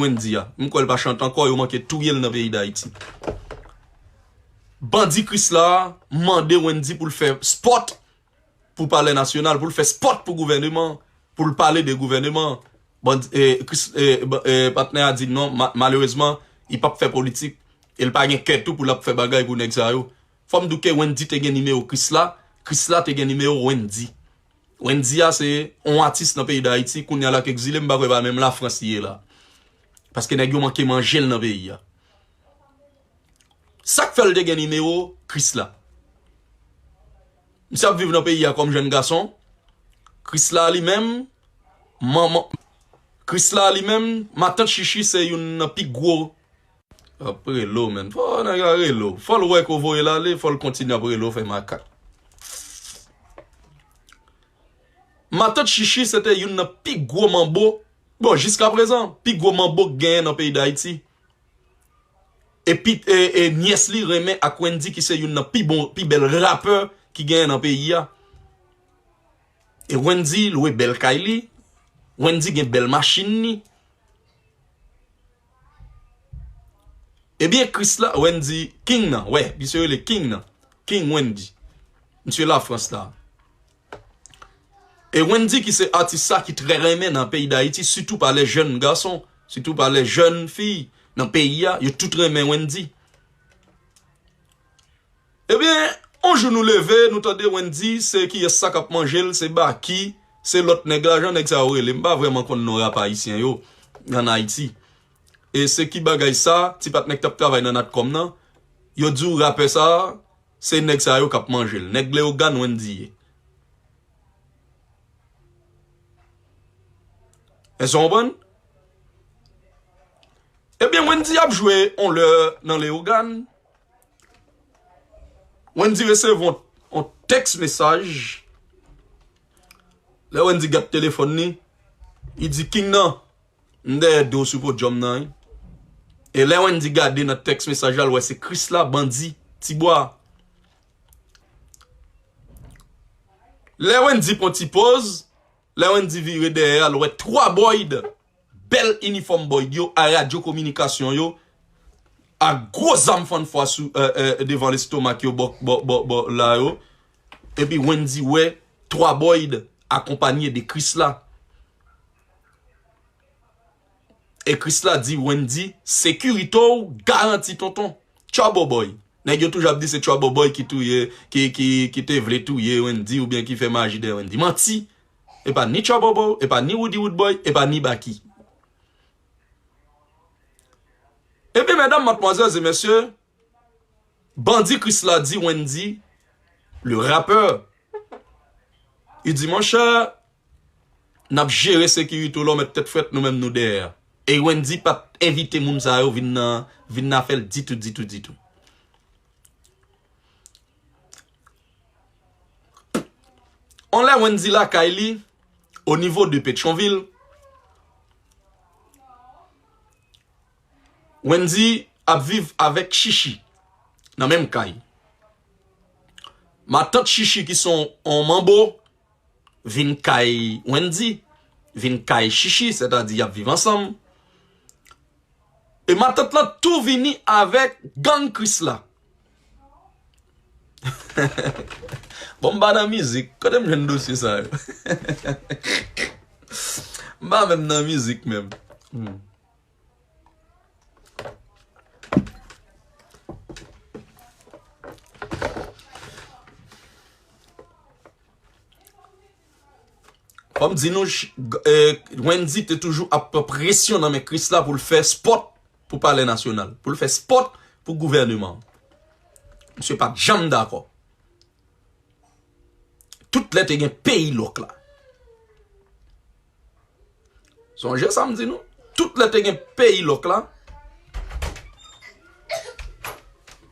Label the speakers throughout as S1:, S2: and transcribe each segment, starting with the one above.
S1: Wendy a. M kwè l pa chante ankò, yo manke touye l nan peyi Dayiti. Bandi Krisla a mande Wendy pou l fè spòt pou palè nasyonal, pou l fè spòt pou gouvèneman an, pou l pale de gouvèneman an. Bandi e Kris e e patnè a di non, ma malerezman, li p ap fè politik e l pa gen kè tou pou l ap fè bagay pou nèg sa yo. Fò m di w ke Wendy te gen nimewo Krisla, Krisla te gen nimewo Wendy. Wendy a se on atis nan peyi dayiti kounya lak egzile m pa kwè pa menm la frans li ye la paske nèg yo manke manjel nan peyi a sak fèl te gen nimewo krisla misye ap viv nan peyi a kòm jèn gason krisla li menm manman krisla li menm matant chichi se youn nan pi gwo Ap rele w menm. Fò nèg la rele w. Fò l wè ke w voye l ale, fò l kontinye ap rele w fè makak. Matant Chichi se te youn nan pi gwo manbo, bon jiska prezan, pi gwo manbo ki genyen nan peyi Dayiti. E nyès li renmen ak Wendy ki se youn nan pi bon, pi bèl rapè ki genyen nan peyi a. E Wendy lwe bèl kay li, Wendy gen bèl machin li. Ebyen Kris la Wendy King nan wè misye rele King nan King Wendy misye la Frans la E Wendy ki se atis sa ki trè renmen nan peyi dayiti sitou pa lè jèn gason sitou pa lè jèn fi nan peyi a yo tout renmen Wendy. Ebyen on jou nou leve nou tande Wendy se kiyès sa kap manjel se Baky se lòt nèg la jan nèg sa yo rele m pa vrèman konn non rap ayisyen yo an Ayiti e se ki bagay sa ti patnè ki tap travay nan natcom nan yo diw rapè sa se nèg sa yo kap manjel nèg Leogane Wendy ye èske ou konprann ebyen Wendy ap jwe on lè nan Leogane. Wendy resevwa yon tèks mesaj, lè Wendy gad telefòn li, li di King nan, m dèyè do w sou podyòm nan wi. E lè Wendy gade nan tèks mesaj la, l wè se Krisla, bandi, Tibwa. Lè Wendy pran ti poz, lè Wendy vire dèyè a, l wè 3 Boyd Bèl inifòm boyd yo a radyo kominikasyon yo a gwo zam fann fwa sou devan lestomak yo bò la yo epi wendy wè 3 boyd akonpanye de krisla e krisla di wendy sekirite w garanti tonton trouble boy nèg yo toujou ap di se trouble boy ki te vle touye wendy oubyen ki fè maji dèyè wendy manti Epa ni tchòbobo, epa ni Roody Roodboy, epa ni Baky. Ebyen medam, matmwazèl e mesye, bandi Krisla di Wendy, le rappeur, li di monchè, nap jere sekirite w la, w met tèt frèt, nou menm nou dèyè a. E Wendy pat envite moun sa yo vin nan afè l ditou ditou ditou. On lè Wendy lakay li au niveau de Petyonvil, Wendy ap viv avèk Chichi nan menm kay. Matant Chichi ki son on manbo vin kay Wendy, vin kay Chichi, sètadi y ap viv ansanm. E matant lan tou vini avèk gang Krisla. Bon m pa nan mizik, kote m jwenn dosye sa yo? M pa menm nan mizik menm. Fò m di nou, Wendy te toujou ap pran presyon nan men Chrisla pou l fè spòt. pou palè nasyonal, pou l fè spòt pou gouvèneman an. Misye pa t janm dakò. Tout lè te gen peyi lòk la. Sonje sa m di nou, tout lè te gen peyi lòk la.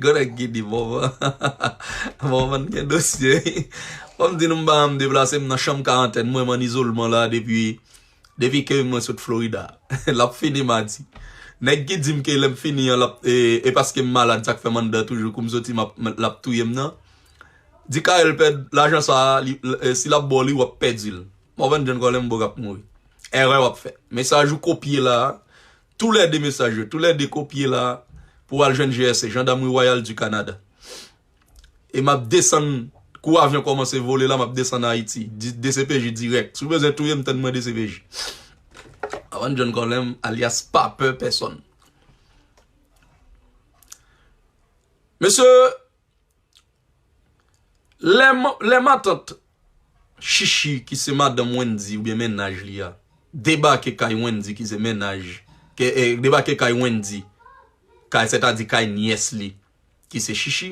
S1: Gonna giddy Morvan Morvan gen dosye wi Fòm di nou m pa janm deplase m nan chanm karantèn mwen m an izolman la depi depi ke mwen sot Florida l ap fini madi nèg ki di m ke lè m fini an l ap e paske m malad sa k fè m anndan toujou kou m soti m ap l ap touye m nan di Carel pèd lajan sa si l ap ba w li w ap pèdi l Morvan John Colin m bo k ap mouri èrè w ap fè mesaj ou kopye la a. Tou lè 2 mesaj yo, tou lè 2 kopye la pou w al jwenn GRC, Jandamri Wayal di Kanada. E m ap desann, kou avyon kòmanse vole la, m ap desann Ayiti. Dcpj dirèk. Si w bezwen touye m, tann mwen dcpj. Avan John Colem, alyas Pa Pè Pèsòn. Mesye, Lè matant Shishi ki se madanm Wendy oubyen mennaj li a debake kay Wendy ki se mennaj debake kay Wendy kay sètadi kay nyès li ki se Shishi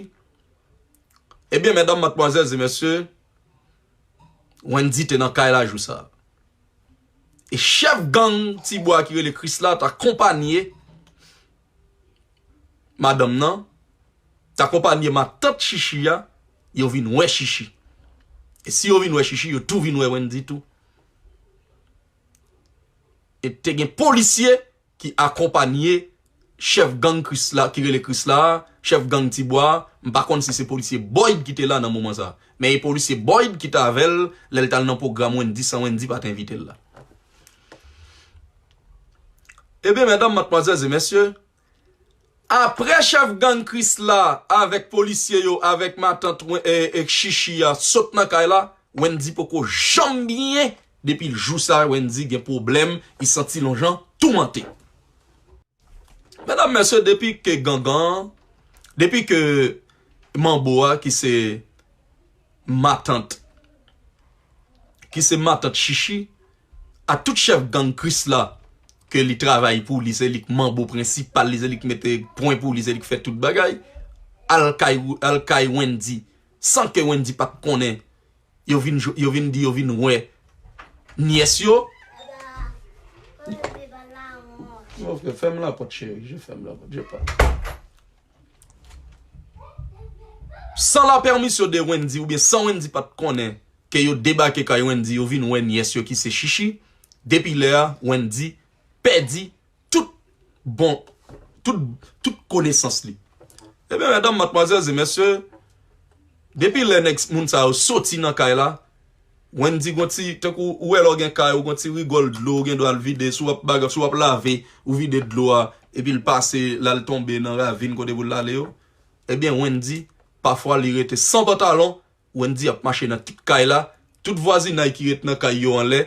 S1: ebyen medam matmwazèl e mesye Wendy te nan kay la jou sa e chèf gang Tibwa ki rele Krisla ta konpanye madanm nan t akonpanye matant Chichi a yo vin wè Chichi e si yo vin wè Chichi yo tou vin wè Wendy tou e te gen polisye ki akonpanye chèf gang Krisla ki rele Krisla a chèf gang ti bwa a m pa konn si se polisye Boyd ki te la nan moman sa men e polisye Boyd ki t avè l lè l t al nan pwogram Wendy san Wendy pa t envite l la. Ebyen mèdam, matmwazèl ze mèsye, apre chèf gang Krisla avèk polisye yo avèk matant Shishi a sot nan kay la, Wendy poko janm byen depi jou sa Wendy gen pwoblèm, li santi l on jan toumante. Medam mesye depi ke gangan depi ke manbo a ki se matant ki se matant chichi a tout chef gang krisla ke li travay pou li se li k manbo prensipal li se li k mete pwen pou li se li k fè tout bagay al kay al kay wendy san ke wendy pat konnen yo vin jwe yo vin di yo vin wè nyès yo ok fèm lapòt cheri je fèm lapòt je pa san la pèmisyon de Wendy oubyen san Wendy pa t konnen ke yo debake kay Wendy yo vin wè nyès yo ki se Shishi depi lè a Wendy pèdi tout bon tout tout konesans li ebyen medam matmwazèl e mesye depi lè nèg moun sa yo soti nan kay la Wendy gon ti tankou ou wè lè w gen kay ou gon ti rigòl dlo ou gen dwa l vide si w ap baga si w ap lave ou vide dlo a epi l pase l al tonbe nan ravin kote pou l ale yo ebyen Wendy pafwa li rete san pantalon Wendy ap mache nan tout kay la, tout vwazinay ki ret nan kay yo anlè,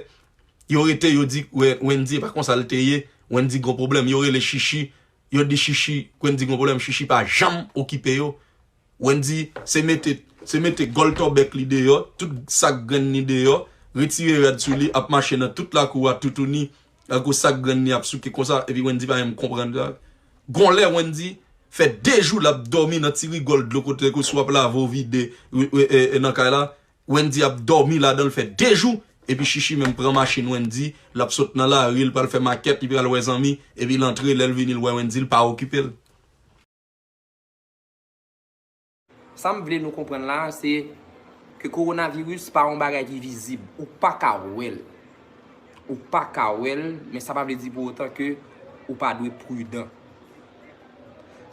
S1: yo rete yo di Wendy epa konsa l te ye, Wendy gon pwoblèm, yo rele Shishi, yo di Shishi Wendy gon pwoblèm, Shishi pa janm okipe yo, Wendy se mete se mete gòl tòbèk li deyò, tout sak grenn li deyò, retire rad sou li ap mache nan tout lakou a toutouni. Gad gwo sak grann li ap souke konsa epi Wendy pa menm konprann sa. Gon lè Wendy fè 2 jou lap dòmi nan ti rigòl dlo kote ke sou ap lave ou vide nan kay la, Wendy ap dòmi ladanl fè 2 jou epi Shishi menm pran machin Wendy lap sot nan lari li pral fè makèt li pral wè zanmi epi l antre lèl vini l wè Wendy li pa okipel.
S2: Sa m vle nou konprann la a se ke kowonaviris pa yon bagay ki vizib. Ou pa ka wè l. Ou pa ka wè l, men sa pa vle di pou otan ke ou pa dwe pridan.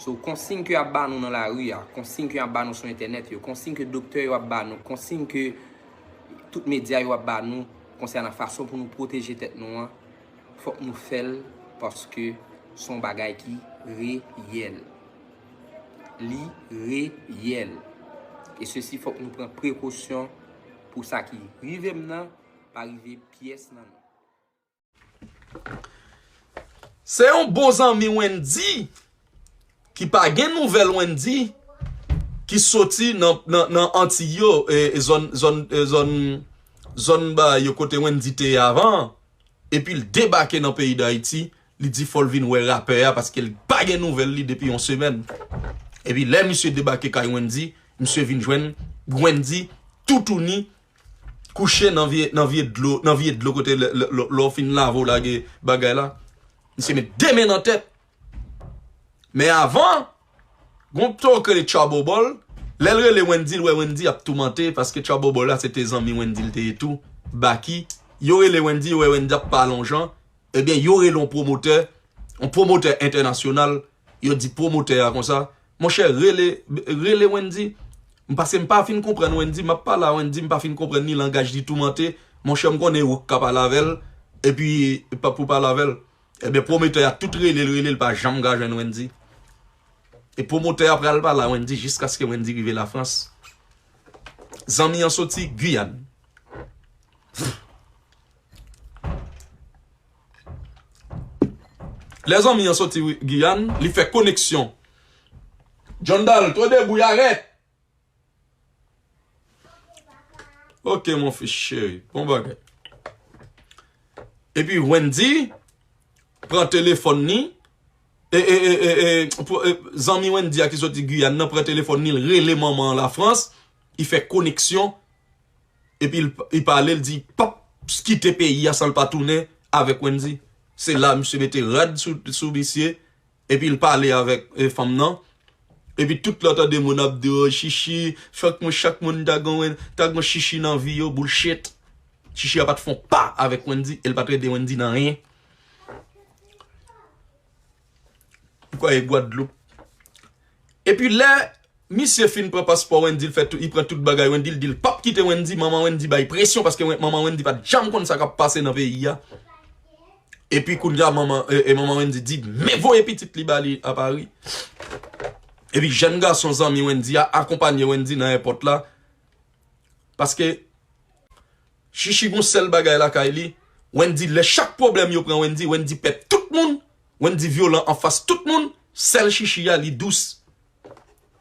S2: So, konsiy ke y ap ba nou nan lari a, konsiy ke y ap ba nou sou entènèt yo, konsiy ke doktè yo ap ba nou, konsiy ke tout medya yo ap ba nou konsènan fason pou nou pwoteje tèt nou an, fòk nou fè l paske s on bagay ki reyèl. li reyèl. E sesi fòk nou pran prekosyon pou sa ki rive m nan pa rive pyès nan nou.
S1: Se yon bon zanmi Wendy ki pa gen nouvèl Wendy ki soti nan Antiy yo, zòn kote Wendy te ye avan an, epi l debake nan peyi Dayiti Li di fòl vin wè rapè a paske li pa gen nouvèl li depi yon semèn. Epi lè misye debake kay Wendy, misye vin jwenn Wendy toutouni kouche nan vye nan vye dlo nan vye dlo kote lè lè w fin lave w lage bagay la. Misye met 2 men nan tèt. Men avan, gon pto k rele Tchòbobòl, lè l rele Wendy l wè Wendy ap toumante paske Tchòbobòl la se te zanmi Wendy l te ye tou, Baky. Yo rele Wendy, yo wè Wendy ap pa lonjan. Ebyen yo rele yon pwomotè, yon pwomotè entènasyonal, yo di pwomotè a konsa, monchè rele, rele Wendy, paske m pa fin konprann Wendy, m ap pale a Wendy m pa fin konprann ni langaj li toumante, monchè m konnen ou k ka pale avè l, epi pou w pale avè l. Ebyen pwomotè a tout rele l, rele l pa janm ka jwenn Wendy. E pwomotè a pral pale a Wendy jiskaske Wendy rive Lafrans. Zanmi an soti Guyane. Lè zanmi an soti Giyàn, li fè koneksyon. John Dal, Two de bouy arèt! Ok mon fils cheri, bon bagay. Epi Wendy pran telefòn ni, e, e, e, e, e, e, zanmi Wendy a ki soti Giyàn nan pran telefòn ni, li rele manman an Lafrans, li fè koneksyon. epi li pale li di pap kite peyi a san li pa tounen avèk Wendy se la misye mete rad sou misye epi li pale avèk fanm nan epi tout lè w tande moun ap di oh chichi fòk mwen chak moun ta gon chichi nan vi yo bullshit chichi a pat fon pa avèk Wendy e li pat ede Wendy nan anyen. Mkwè e Guadeloupe. Epi lè misye fin pran paspò Wendyy fè tout li pran tout bagay Wendyy dil pap kite Wendyy manman Wendyy bay presyon paske manman Wendyy pat janm konn sa kap pase nan peyi a epi kounya manman e manman Wendyy di men voye pitit li bali a Paris epi jèn gason zanmi Wendyy a akonpanye Wendyy nan èpòt la paske Shishi gon sèl bagay lakay li Wendy lè chak problèm yo pran Wendy Wendy pè tout moun Wendy vyolan anfas tout moun sèl shishi ya li dous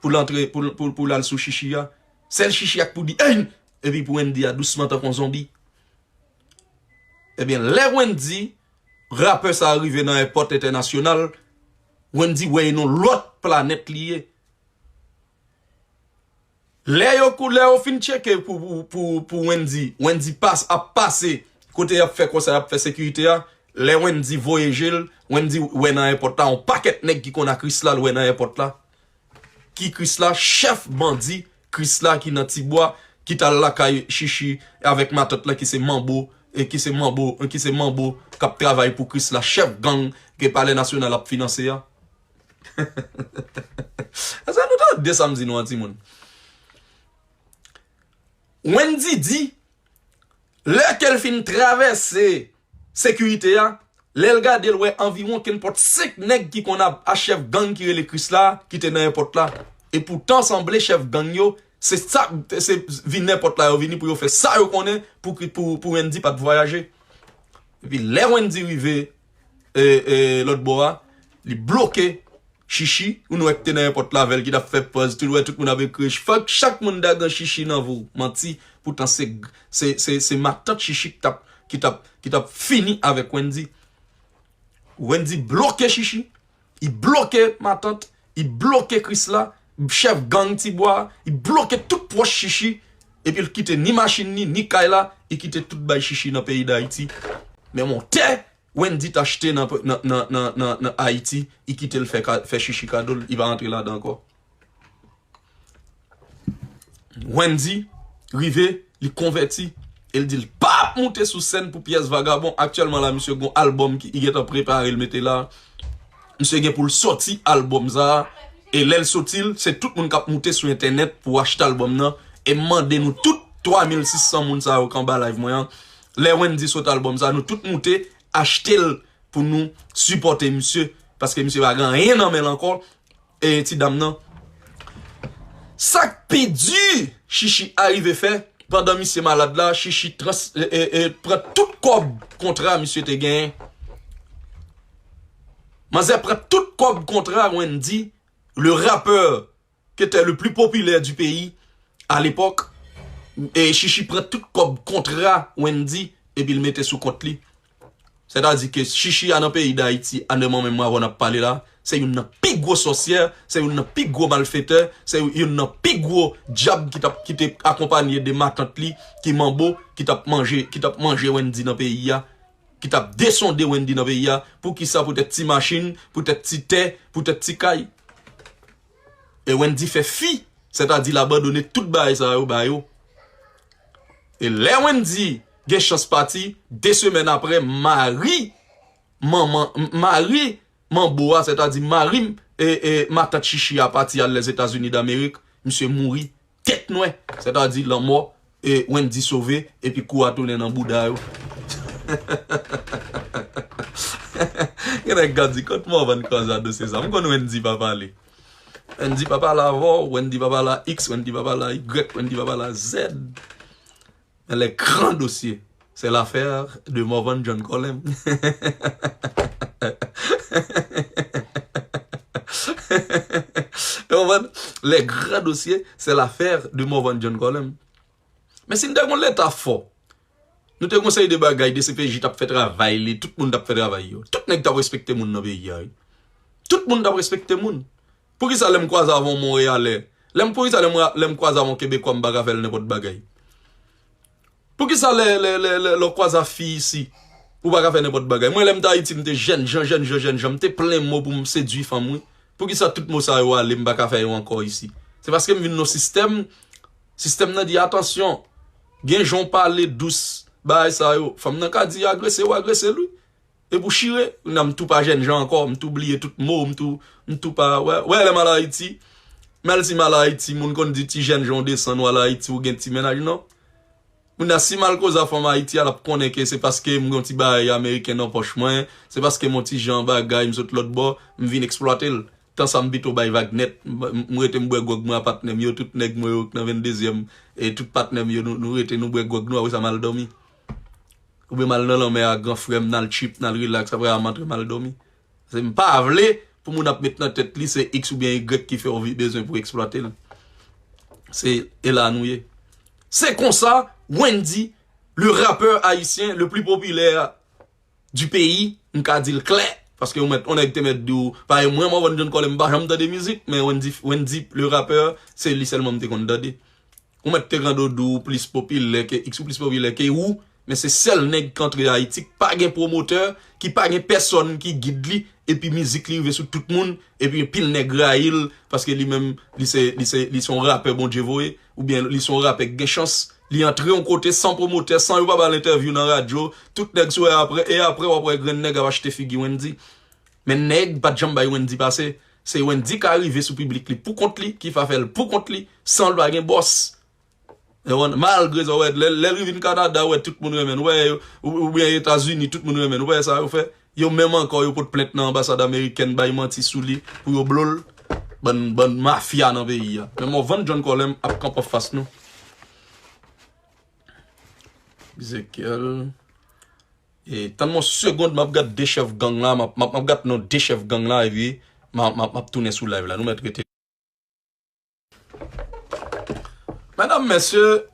S1: poul antre poul al sou shishi ya sèl shishi ya k pou di einn epi pou Wendy ya dousman tankou yon zonbi ebyen lè Wendy rapè sa rive nan èpòt entènasyonal Wendy wè e non lòt planèt li ye. Lè yo kou lè yo fin tcheke pou pou pou Wendy Wendy pas ap pase kote yap fè konsa yap fè sekirite a lè Wendy voye jel Wendy wè nan èpòt la yon pakèt nèg ki konn a Krisla l wè nan èpòt la ki Krisla chèf bandi Krisla ki nan ti bwa ki tal lakay chichi avèk matant la ki se manbo e ki se manbo e ki se manbo kap travay pou Krisla chèf gang ke palè nasyonal ap finanse a. Eske nou tande sa m di nou an timoun? Wendy di, lè ke l fin travèse sekirite a, lè l gade l wè anviwon kenpòt 5 nèg ki konn ap a chèf gang ki rele Kris la ki te nan èpòt la. E poutan sanble chèf gang yo se sa se vin nan èpòt la yo vini pou yo fè sa yo konnen pou Wendy pa t vwayaje. Epi lè Wendy rive lòt bò a, li bloke Shishi, ou nwè ki te nan èpòt la avèl ki tap fè pòz, tout wè tout moun ap ekri, fòk chak moun ta gen Shishi nan vou, manti, poutan se se se matant Shishi ki tap ki tap ki tap fini avèk Wendy, Wendy bloke Shishi. I bloke matant, i bloke Krisla, chèf gang ti bwa, i bloke tout pwòch shishi, epil kite ni machin ni, ni kay la, i kite tout bay shishi nan peyi dayiti, menm on tè Wendy t achte nan nan nan ayiti i kitel fè shishi kadol i pa antre ladan ankò. Wendy rive li konvèti e l di l pa ap moute sou sèn pou pyès vagabon aktyèlman la misye gon albòm ki gentan prepare l mete la misye gen pou l sòti albòm sa e lè l sòti l se tout moun k ap moute sou entènèt pou achte albòm nan e m mande nou tout 3 mil 600 moun sa yo k anba live mwen an lè Wendy sot albòm sa nou tout moute achte l pou nou sipòte misye paske misye pa gen anyen nan men l ankò. E ti dam nan? Sak pi di Shishi arive fè pandan misye malad la Shishi pran tout kòb kontra misye te genyen Manzè pran tout kòb kontra Wendy le rappeur ke te le pli popilè di peyi a lepòk e Shishi pran tout kòb kontra Wendy epi l mete sou kont li Sètadi ke Shishi a nan peyi Dayiti a lè mwen menm avè w nap pale la, se youn nan pi gwo sòsyè, se youn nan pi gwo malfetè, se youn nan pi gwo dyab ki tap ki te akonpanye de matant li ki manbo ki tap manje ki tap manje Wendy nan peyi a, ki tap desonde Wendy nan peyi a, poukisa poutèt ti machin, poutèt ti tè, poutèt ti kay. e Wendy fè fi sètadi l abandone tout bagay sa yo ba yo e lè Wendy gen chans pati 2 semèn aprè mari manman mari manbo a sètadi mari matant chichi a pati al Lèzetazini Damerik misye mouri Tèt nwè, sètadi lanmò, e Wendy sove epi kou a tounen nan bouda yo. Gen nèg k ap di kot Morvan Kwanzaa dosye sa. M konn Wendy pa pale. Wendy pa pale avè w, Wendy pa pale a X, Wendy pa pale a Y, Wendy pa pale a Z. Men le gran dosye se l'affaire de Morvan John Colem. Ou konprann? Le gran dosye se l'affaire de Morvan John Colem. Men si nou te kon leta fò, nou te kon seri de bagay dcpj tap fè travay li, tout moun tap fè travay yo. Tout nèg tap respekte moun nan peyi a wi. Tout moun tap respekte moun. Poukisa lèm kwaze avè yon Monreyalè, lèm poukisa lèm lèm kwaze avè yon Kebekwa m pa ka fè l nenpòt bagay? Poukisa lè lè lè lè lè w kwaze a fi isi ou pa ka fè nenpòt bagay? Mwen lèm te Ayiti m te jèn jan jèn jan jèn jan m te plen mo pou m sedui fanm wi. Poukisa tout mo sa yo ale m pa ka fè yo ankò isi? Se paske m vin nan yon sistèm, sistèm nan di atansyon, gen jan w pale dous bagay sa yo. Fanm nan ka di agrese w agrese l wi. E pou chire, nan m tou pa jènjan ankò, m tou bliye tout mo, m tou, m tou pa wè, wè lè m al Ayiti, menl si m al Ayiti, moun konn di ti jènjan w desann w al Ayiti w gen ti mennaj non. Kounya si m al koze a fanm Ayiti a l ap konnen ke se paske m gen yon ti bagay ameriken nan pòch mwen, se paske m yon ti jan bagay m sot lòt bò, m vin eksplwate l. Tan sa m pito bay vag nèt, m rete m bwè gwòg mwen a patnè m yo, tout nèg mwen yo k nan 22 zièm, e tout patnè m yo nou rete nou bwè gwòg nou apre sa m al dòmi. Oubyen mal nan lanmè a gran frèm nal trip nal relax aprè a mantre mal domi paske m pa vle pou moun ap met nan tèt li se x oubyen y ki fèw vi bezwen pou eksplwate l se e la nou ye se konsa Wendy le rappeur haïtien le plus populaire du pays m ka dil klè paske yon mèt on nèg te mèt di w pa e mwen Morvan John Colem m pa janm tande mizik men Wendy le rappeur se li sèlman m te konn tande Ou mèt te rande Odou ou plis popilè ke X ou plis popilè ke ou men se sèl nèg k antre Ayiti k pa gen pwomotè ki pa gen pèsòn ki gid li epi mizik li rive sou tout moun epi anpil nèg rayi l paske li menm li se li se li se yon rapè Bondye voye oubyen li se yon rapè k gen chans li antre yon kote san pwomotè san yo pa ba l entèvyou nan radyo tout nèg sou e aprè e aprè w ap wè grenn nèg ap achte figi Wendy men nèg pa t janm bay Wendy pase Se Wendy ka rive sou piblik li pou kont li, ki fa fè l pou kont li, san l pa gen bòs. Ewan, malgre sa w wè, lè l vin Kanada, ou wè tout moun renmen l, wè, oubyen Etazini, tout moun renmen l, wè sa yo fè. Yo menm ankò, yo pot plent nan anbasad amerikèn, bay manti sou li, pou yo blo l. Bann, bann mafya nan peyi a. Men Morvan John Colem ap kanpe an fas nou. Ezekyèl. Tann mwen yon segond map gad 2 chèf gang la map gad non 2 chèf gang la epi map tounen sou live la nou mèt rete. Medam mesye.